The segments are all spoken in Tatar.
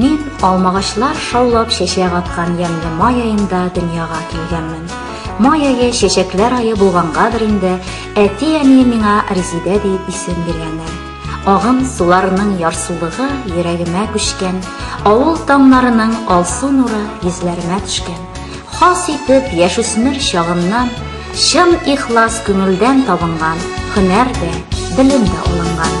Мин алмагачлар шаулап чәчәк аткан ямьле май аенда дөньяга килгәнмен. Май ае чәчәкләр айы булгангадыр инде, әти-әни миңа Резидә дип исем биргәннәр. Агым суларының ярсулыгы йөрәгемә күчкән, авыл таңнарының алсу нуры йөзләремә төшкән. Хас итеп яшүсмер чагымнан чын ихлас күңелдән табынган һөнәр дә, белем дә алынган.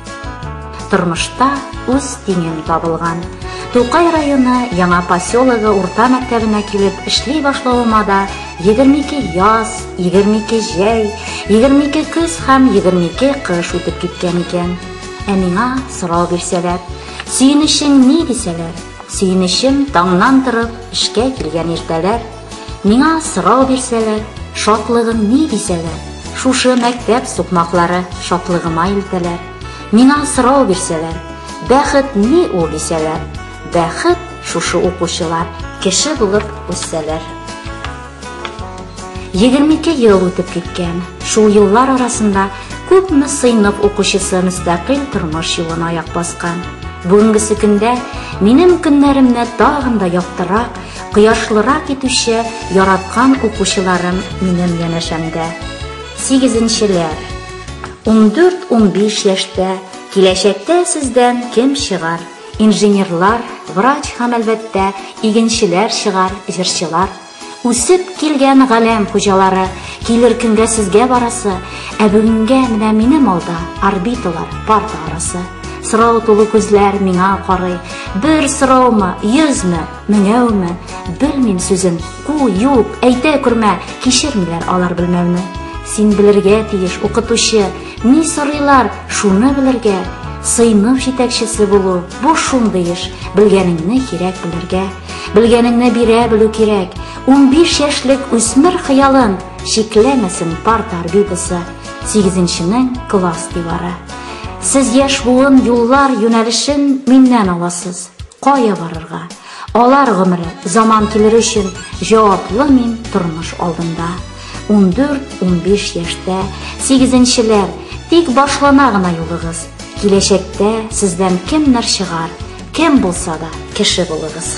Тормышта үз тиңен табылган. Тукай районы Яңа поселогы урта мәктәбенә килеп эшли башлавыма да 22 яз, 22 җәй, 22 көз һәм 22 кыш үтеп киткән икән. Ә миңа сорау бирсәләр, сөенечең ни дисәләр, сөенечем таңнан торып эшкә килгән иртәләр, Миңа сорау бирсәләр, шатлыгым ни дисәләр, шушы мәктәп сукмаклары шатлыгыма илтәләр. Миңа сорау бирсәләр, бәхет ни ул дисәләр, бәхет шушы укучылар кеше булып үссәләр. 22 ел үтеп киткән. Шул еллар арасында күпме сыйныф укучысы мөстәкыйль тормыш юлына аяк баскан. Бүгенгесе көндә минем көннәремне тагын да яктырак, Кояшлырак итүче яраткан укучыларым минем янәшәмдә. Сигезенчеләр! Ундүрт-унбиш яшьтә киләчәктә сездән кем чыгар? Инженерлар, врач һәм, әлбәттә, игенчеләр чыгар, җырчылар. Үсеп килгән галәм хуҗалары, килер көнгә сезгә барасы, ә бүгенгә менә минем алда орбиталар, парта арасы. Сорау тулы күзләр миңа карый. Бер сораумы, йөзме? Менә уме, белмим сүзен, ку, юк, әйтә күрмә, кичермиләр алар белмәүне. Син белергә тиеш, укытучы, ни сорыйлар, шуны белергә. Сыйныф җитәкчесе булу, бу шундый эш, белгәнеңне кирәк белергә. Белгәнеңне бирә белү кирәк. 15 яшьлек үсмер хыялын чикләмәсен парта орбитасы, 8-нченең класс дивары. Сез яшь буын юллар, юнәлешен миннән аласыз. Кая барырга? Алар гомере, заман килер өчен җаваплы мин тормыш алдында. Ундүрт, унбиш яшьтә, сигезенчеләр, тик башлана гына юлыгыз. Киләчәктә сездән кемнәр чыгар, кем булса да, кеше булыгыз.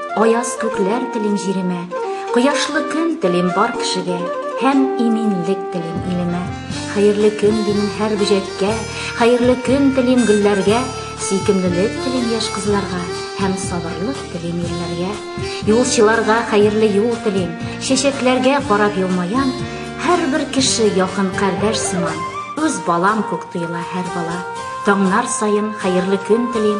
Аяз күкләр телим җиремә, кояшлы көн телим бар кешегә, һәм иминлек телим илемә. Хәерле көн дим һәр бөҗәккә, хәерле көн телим гөлләргә, сөйкемлелек телим яшь кызларга һәм сабырлык телим ирләргә. Юлчыларга хәерле юл телим, чәчәкләргә карап елмаям, һәр бер кеше якын кардәш сыман, үз балам күк тоела һәр бала. Таңнар саен хәерле көн телим,